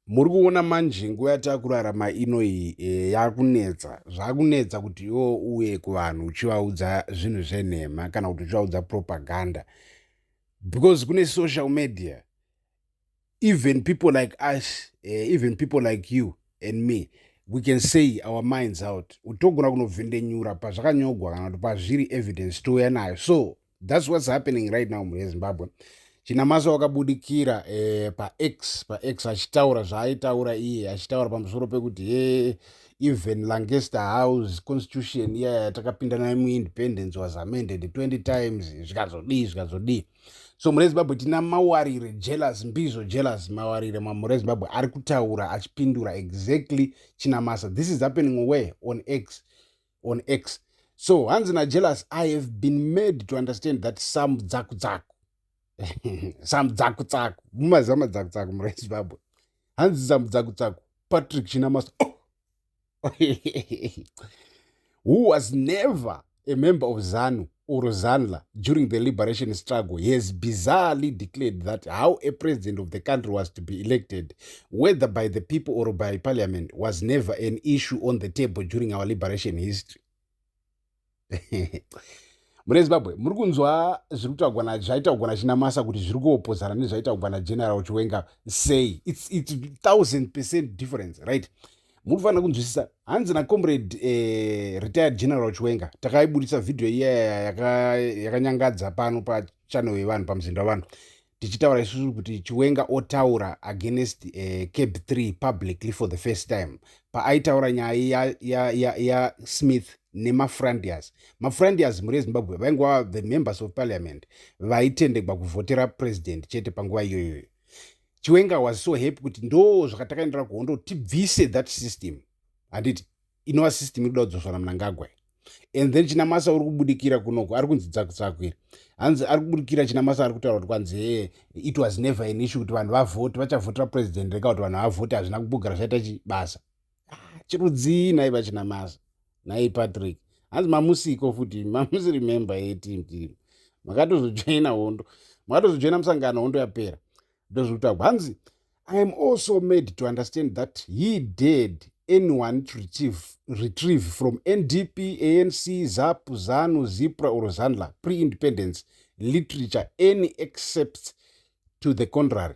Muri kuona manje nguva yatakurarama ino iyi eh, yakunetsa zvakunetsa kuti iwo uye kuvanhu uchivaudza zvinhu zvenhema kana kuti uchivaudza propaganda because kune social media even people like us eh, even people like you and me we can say our minds out utogona kunovhendenyura pazvakanyogwa kana kuti pazviri evidence touya nayo so thats whats happening right now mhuri yezimbabwe chinamasa wakabudikira eh, pax pax achitaura zvaaitaura iye achitaura pamusoro pekuti he even lancaster house constitution iya yatakapinda nayo muindependence was amended 20 times zvikazodii zvikazodii so mhuri yezimbabwe tina mawarire jealous mbizo jealous mawarire mamhuri ezimbabwe ari kutaura achipindura exactly chinamasa this is happening away on x on x so hanzi najealous i have been made to understand that some dzaku dzaku some dzaku tsaku mumaziva madzaku tsaku mura ezimbabwe hanzi some dzaku tsaku patrick chinamasa oh! who was never a member of zanu or Zanla during the liberation struggle, he has bizarrely declared that how a president of the country was to be elected, whether by the people or by parliament, was never an issue on the table during our liberation history. mune zimbabwe muri kunzwa zviri kutaugwa nazvaitaugwa nachinamasa kuti zviri kuopozana nezvaitaugwa nageneral chiwenga sei its, its thousand percent difference right muri kufanira kunzwisisa hanzi nacomrade eh, retired general chiwenga takaibudisa vhidhiyo iyaya yakanyangadza yaka pano pachanel yevanhu pamuzinda wevanhu tichitaura isusu kuti chiwenga otaura against uh, eh, cab 3 publicly for the first time paaitaura nyaya ya, ya, ya, ya smith nemafrandias mafrandias mhuri yezimbabwe vainguva the members of parliament vaitendegwa kuvhotera president chete panguva iyoyoyo chiwenga was so happy kuti ndoo zvakatakaendera kuhondo tibvise that system handiti inova system iri kuda kudzoswa namnangagwa and then chinamasa uri kubudikira kunoko ari kunzi dzakutsakwira hanzi ari kubudikira chinamasa ari kutaura kuti kwanzi hee eh, it was never an issue kuti vanhu vavhoti vachavhotera president rega kuti vanhu havhoti hazvina kubugara zvaita chibasa ah, chirudzii nhai vachina masa nhai patrick hanzi mamusiko futi mamusi remember yetim team makatozojoina hondo makatozojoina musangano hondo yapera ndozvekutagwa hanzi i am also made to understand that he did anyone to retrieve, retrieve from ndp anc zap zanu zipra or zandla pre-independence literature any except to the contrary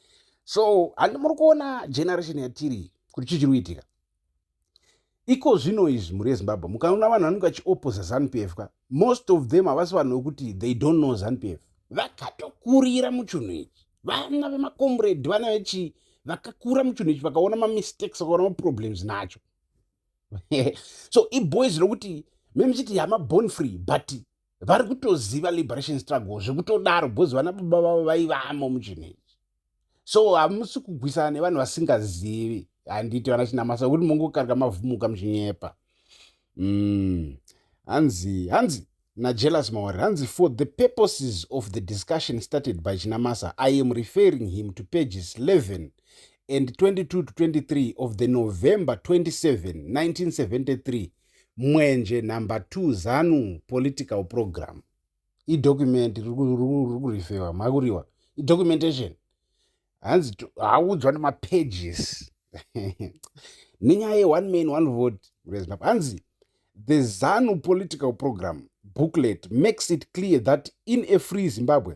so handi muri kuona generation yatiri kuti chii chiri kuitika iko zvino izvi mhuri yezimbabwe mukaona vanhu vanenge vachioposa zanupf ka most of them havasi vanhu vekuti they don't know zanupf vakatokurira muchinhu ichi vana vemakomredi vana vechii vakakura muchinhu ichi vakaona mamistakes vakaona maproblems nacho so iboys rokuti memuchiti yama born free but vari kutoziva liberation struggle zvekutodaro because vana baba vavo vaivamo muchinhu ichi so hamusi kugwisana nevanhu vasingazivi handiti vana chinamasa kuti mongokarika mavhumuka muchinyepa mm. hanzi hanzi najealous mawari hanzi for the purposes of the discussion started by chinamasa i am referring him to pages 11 and 22 to 23 of the november 27 1973 Mwenje number two zanu political program idocument rikurifewa makuriwa idocumentation hanzi haudzwa nemapages nenyaya yeone man one vote rezimbabwe hanzi the zanu political program booklet makes it clear that in a free zimbabwe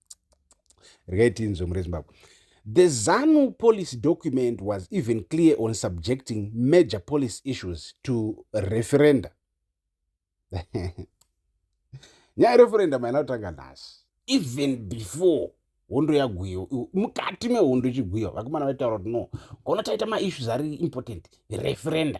regai tinzwe mure zimbabwe the zanu policy document was even clear on subjecting major policy issues to referenda nyaya referenda maina kutanga nhasi even before hondo yagwiwa mukati mehondo ichigwiwa vakomana vaitaura kuti no kono taita maissues ari important referenda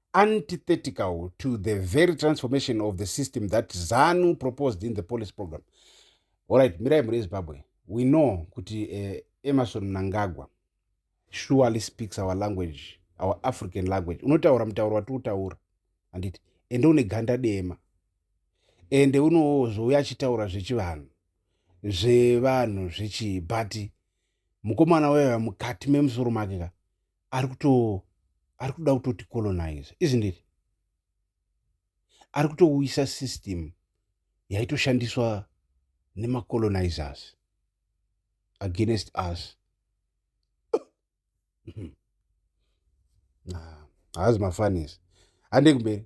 antithetical to the very transformation of the system that zanu proposed in the policy program allright mirai mhuri yezimbabwe we know kuti uh, emerson mnangagwa surely speaks our language our african language unotaura mutauro wati utaura handiti ende une ganda dema ende unozouya achitaura zvechivanhu zvevanhu zvechibhati mukomana weya mukati memusoro make ka ari kuto ari kuda kutoti colonize isn't it ari kutouyisa system yaitoshandiswa nemacolonizers against us haazi mafanis handei kumberi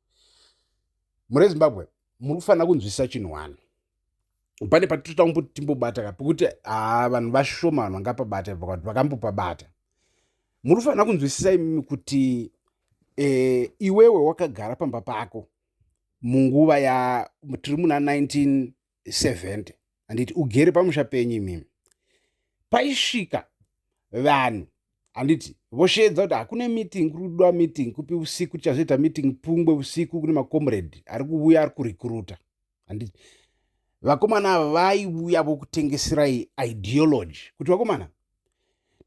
muri zimbabwe muri kufanira kunzwisisa chinhu wani pane patitoda kumboti timbobata ka pekuti haa vanhu vashoma vanhu vangapabata vakati vakambopabata muri kufanira kunzwisisa imimi kuti e, iwewe wakagara pamba pako munguva ya tiri muna 19 70 handiti ugere pamusha penyu imimi paisvika vanhu handiti vosheedza kuti hakune meeting kuri kudiwa meeting kupi usiku tichazoita meeting pungwe usiku kune macomrade ari kuvuya ari kurecruta handiti vakomana ava vaivuya vokutengeserai ideology kuti vakomana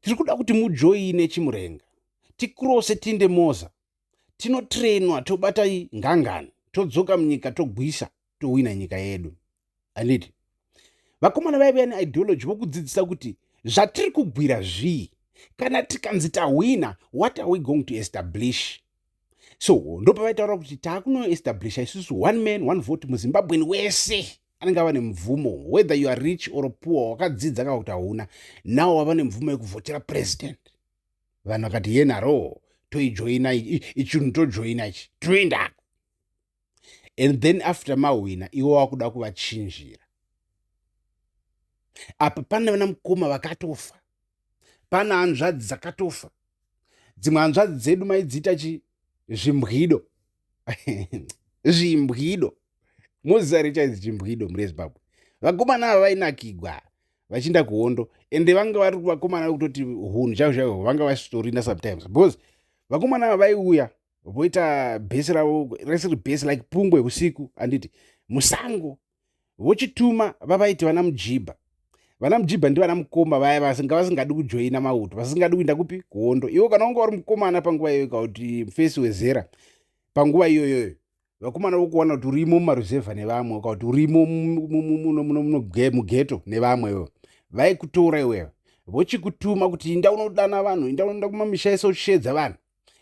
tiri kuda kuti mujoine chimurenga tikrose tinde moza tinotrainwa tobata ngangani todzoka munyika togwisa tohwina nyika yedu anditi vakomana vaive ne ideology vokudzidzisa kuti zvatiri kugwira zvii kana tikanzi tahwina what are we going to establish so ndopavaitaura kuti taakunoestablisha isusu one man one vote muzimbabweni wese anenge ava nemvumo whether you are rich or poor wakadzidza kana kuti hauna nawo wava nemvumo yekuvhotera president vanhu vakati yenharoo toijoina ichinhu tojoina ichi toendako and then after mahwina iwo wakuda kuvachinjira apa pane vana mukoma vakatofa pana hanzvadzi dzakatofa dzimwe hanzvadzi dzedu maidziita chi zvimbwido zvimbwido mozisa richaizi chimbwido murezimbabwe vakomana ava vainakigwa vachiinda kuhondo ende vanga vari vakomana vekutoti hunhu chaiko chaiko vanga vasitorina sometimes because vakomana ava vaiuya voita bhesi ravo resiri bhesi like pungwe usiku handiti musango vochituma vavaiti vana mujibha vana mujibha ndivana mukoma vaya vasanga vasingadi kujoina mauto vasingadi kuinda kupi kuhondo iwo kana wanga wari mukomana panguva iyoyo kauti mufesi wezera panguva iyoyoyo vakomana vokuwana kuti urimo mumaruzevha nevamwe uka kuti urimo mugeto nevamwe ivo vaikutora iwewe vochikutuma kuti inda unodana vanhu inda unoenda kumamisha ese uchisheedza vanhu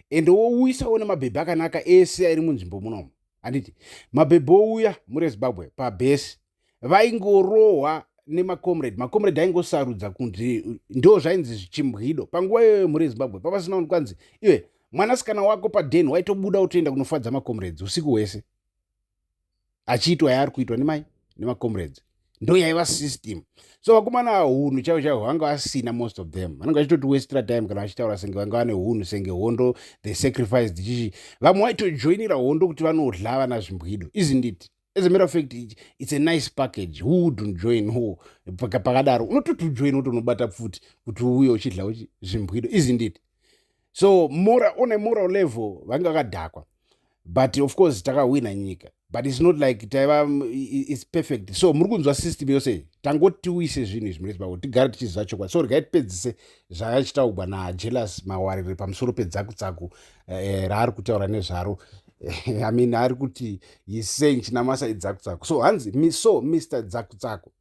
ende wouyisawo nemabhebhi akanaka ese ari munzvimbo munomo handiti mabhebhi ouya murezimbabwe pabhesi vaingorohwa nemacomrade macomrade aingosarudza kunzi ndo zvainzi zvichimbwido panguva iyoyo mhuri yezimbabwe pavasina unhu kwanzi iwe mwanasikana wako paden waitobuda utoenda kunofadza macomrades usiku hwese achiitwa yaari kuitwa nemai nemacomrades ndo yaiva system so vakomana hunhu chaivo chaivo vanga vasina most of them vanenge vachitoti westra time kana vachitaura senge vanga vane hunhu senge hondo the sacrifice dzichichi vamwe vaitojoinira hondo kuti vanodla vana zvimbwido isn't it as a matter of fact it's a nice package who wouldn't join ho pakadaro unototi ujoin utonobata pfuti kuti uye uchidla uchi zvimbwido isn't it so mora on a moral level vange vakadhakwa but of course takahwina nyika but its not like taiva its perfect so muri kunzwa system yose tangoti tiuyise zvinhu izvi murezi pako tigare tichiziva chokwadi so regai tipedzise zvayachitaugwa najealous mawarire pamusoro pedzakutsaku eh, raari kutaura nezvaro eh, i mean ari kuti he's saying chinamasa idzakutsaku so hanzi so mr dzakutsaku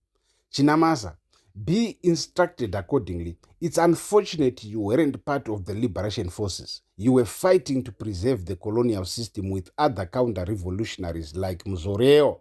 chinamasa be instructed accordingly it's unfortunate you weren't part of the liberation forces you were fighting to preserve the colonial system with other counter revolutionaries like muzoreo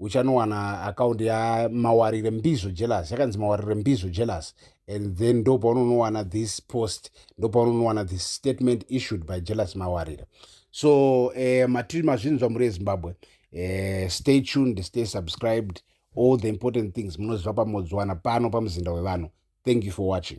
uchanowana account ya mawarire mbizvo jealous yakanzi mawarire mbizvo jealous and then ndo paunonowana this post ndo paunonowana this statement issued by jealous mawarire so eh, matiri mazvinzwa muri ezimbabwe eh, stay tuned stay subscribed all the important things munoziva pamodziwana pano pamuzinda wevanhu thank you for watching